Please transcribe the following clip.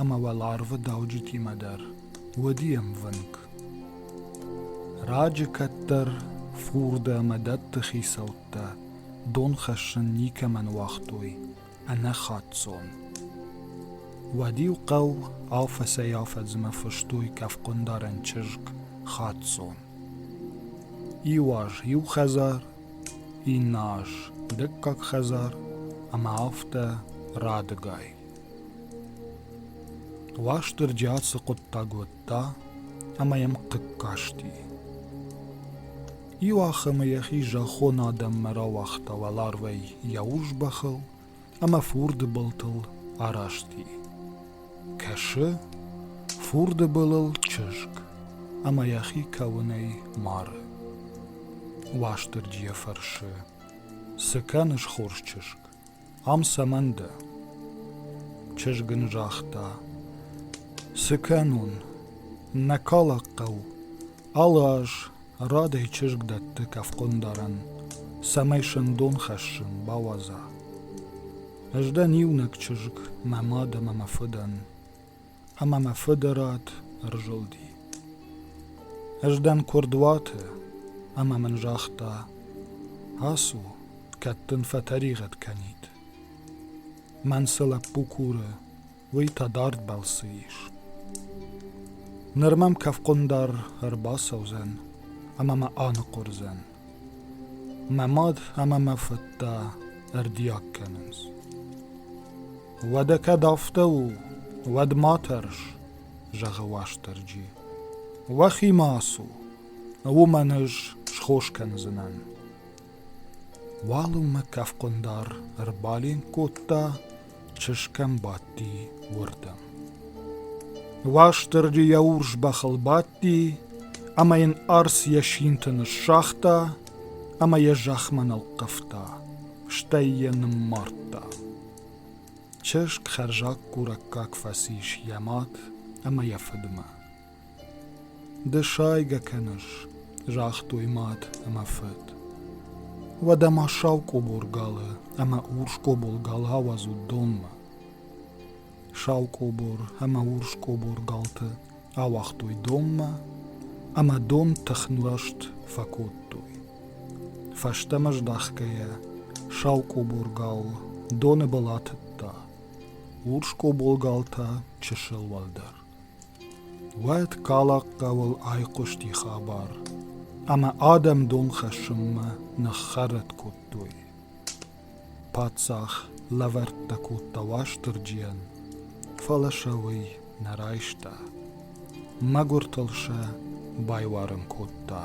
ӕмӕ уал арвы дауджытимӕ дӕр уыди ӕмвынг. Раджы кӕддӕр фурды ӕмӕ дӕтты хицӕуттӕ дон хӕссын никӕмӕн уагътой ӕнӕхацон. Уӕд-иу хъӕу афӕцӕй-афӕдзмӕ фыстой кӕфхъуындарӕн чызг Хацон. Иу аз иу хӕдзар, иннӕ аз дыккаг хӕдзар ӕмӕ афтӕ радыгай. Уастырджи ацы хъуыддаг уыдта ӕмӕ йӕм хъыг касти. Иуахӕмы йӕхи зӕххон адӕммӕ рауагъта уӕларвӕй йӕ урс бӕхыл ӕмӕ фурды былтыл арасти. Кӕсы, фурды былыл чызг ӕмӕ йӕхи кӕуынӕй мары. Уастырджи йӕ фӕрсы, цы кӕныс, хорз чызг? Ам цӕмӕн дӕ? чызг ын загъта. Цы кӕнон? Нӕ калак хъӕу. Алы аз радӕй чызг дӕтты кӕфхъуындарӕн, цӕмӕй сындон хӕссын бауадза. Ӕз дӕн иунӕг чызг, мӕ мад ӕмӕ мӕ фыдӕн. ӕмӕ мӕ фыды рад ӕрзылди. Ӕз дӕн куырдуаты, ӕмӕ мын загъта: «Ацу, кӕд дын фӕтӕригъӕд кӕнид. мӕн цы лӕппу куры, уый та дард балцы ис. Ныр мӕм кӕфхъуындар ӕрбацӕудзӕн ӕмӕ мӕ аныхъуырдзӕн». Мӕ мад ӕмӕ мӕ фыд та ӕрдиаг кӕнынц. Уӕдӕ кӕд афтӕ у, уӕд ма тӕрс, зӕгъы Уастырджи. Уӕхимӕ ацу, уымӕн ӕз схос кӕндзынӕн. Уалынмӕ кӕфхъуындар ӕрбаленк кодта чызгӕн бадти уырдӕм. Уастырджи йӕ урс бӕхыл бадти, ӕмӕ йын арц йӕ синты ныссагъта ӕмӕ йӕ зӕхмӕ нылхъывта, стӕй йӕ ныммардта. Чызг хӕрзаггурӕггаг фӕцис йӕ мад ӕмӕ йӕ фыдмӕ. Ды сайгӕ кӕныс, загътой мад ӕмӕ фыд. Уӕдӕ ма сау къобор галы ӕмӕ урс къобор галы ауадзут донмӕ. Сау къобор ӕмӕ урс къобор галты ауагътой донмӕ, ӕмӕ дон тыхнласт фӕкодтой. Фӕстӕмӕ здӕхгӕйӕ, сау къобор гал доны был атыдта, урс къобор гал та чысыл уӕлдӕр. Уӕд Калакхъӕуыл айхъуысти хабар, ӕмӕ адӕм дон хӕссынмӕ ныххӕррӕтт кодтой. Паддзах лӕвӕрттӕ кодта Уастырджийӕн, фӕлӕ сӕ уый нӕ райста. Мӕгуыртыл сӕ байуарын кодта.